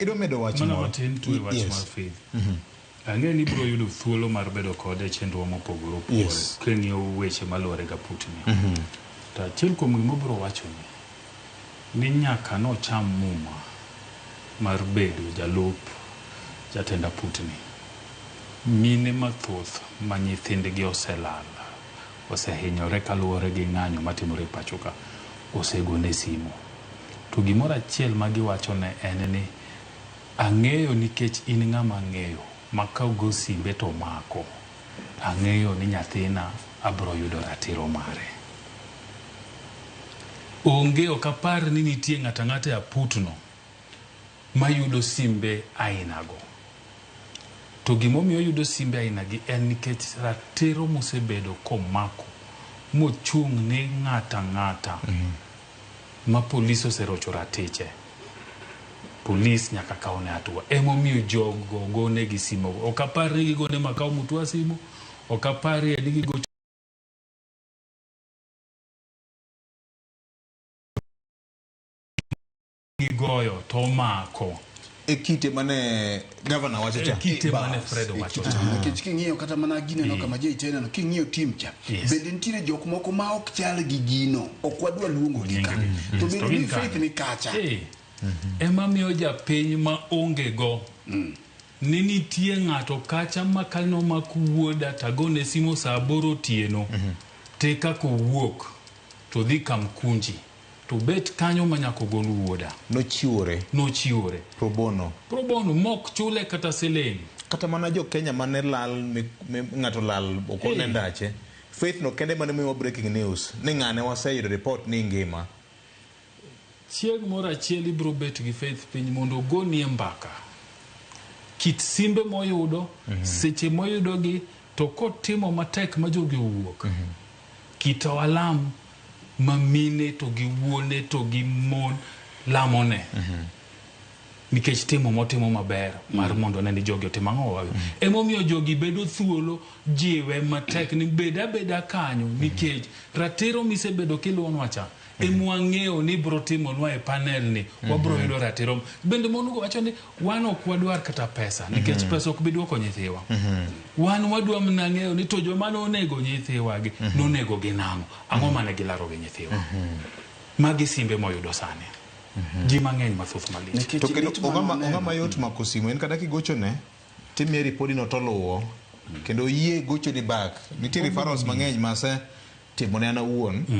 Idwa medo wach Mana moro? matin tu e wach Yes. mar faith. Ang'e ni ibiro yudo thuolo mar bedo kode e chenrowa mopogore opogore Yes. king'iyo weche maluwore ga putni. To achiel kuom gima obiro wachoni ni nyaka nocham muma mar bedo jalup jatend aputni. Mine mathoth ma nyithindgi oselal osehinyore kaluwore gi ng'anyo matimore e pachoka, osegone simu. To gimoro achiel ma giwachone en ni, ang'eyo nikech in ng'ama ang'eyo ma ka ogo simbe to omako, ang'eyo ni nyathina abiro yudo ratiro mare. Onge ok apar ni nitie ng'ato ang'ata e aputno. mayudo simbe ainago. To gima omiyo oyudo simbe ainagi en nikech ratiro mosebedo komako mochung' ni ng'ato ang'ata ma polis oserocho ratiche, polis nyaka kawne atua. Emomiyo jogo gonegi simogo. Ok apar ni gigone Makau Mutua simu, ok aparie ni gigocho gigoyo to omako e kite mane gavana wacho cha e kite mane Fred wacho cha nikech king'iyo kata mana gine no kama jei tena no king'iyo tim cha bende nitiere jok moko ma ok chal gi gino ok wadwa luongo gi ka to bende ni faith ni kacha ema miyo japiny ma onge go mm. ni nitie ng'ato kacha ma kalno ma kuwuoda tagone simo saa aboro otieno mhm. te kaka owuok to dhi kamkunji To bet kanyo ma nyaka ogol wuoda. Nochiwore. Nochiwore. Pro bono. Pro bono mok chule kata siling. Kata mana jo Kenya mane lal mi ng'ato lal ok one ndache. Faith no kende mane miyowa breaking news ni ng'ane waseyudo report ni ngima. Chieng' moro achiel ibro bet gi Faith piny mondo ogonie mbaka kit simbe moyudo, seche moyudogi to kotimo matek ma jogi owuok. Kit alam. ma mine to gi wuone to gi mon lamone nikech timo motimo maber mar mondo ne ni jogi otim ang'o wawe emomiyo jogi bedo thuolo jiwe matek ni bed abeda kanyo nikech ratiro misebedo kiluwonwa cha emwang'eyo ni bro timonwa e panel ni wabro yudo ratiro bende mon go wacho ni wan ok wadwar kata pesa nikech mm -hmm. pesa ok bi dwoko nyithiwa mm -hmm. wan wadwa mna ng'eyo ni to joma nonego nyithiwagi mm -hmm. nonego gi nang'o ang'o mm -hmm. mane gilaro gi nyithiwa mm -hmm. magi simbe moyudo sani mm -hmm. ji mang'eny mathoth malich to kendo ong'ama yot mako simu en kata kigochone timie ripodino toluwo kendo yie gochoni bak nitie referrals mang'eny mase timone an awuon mm.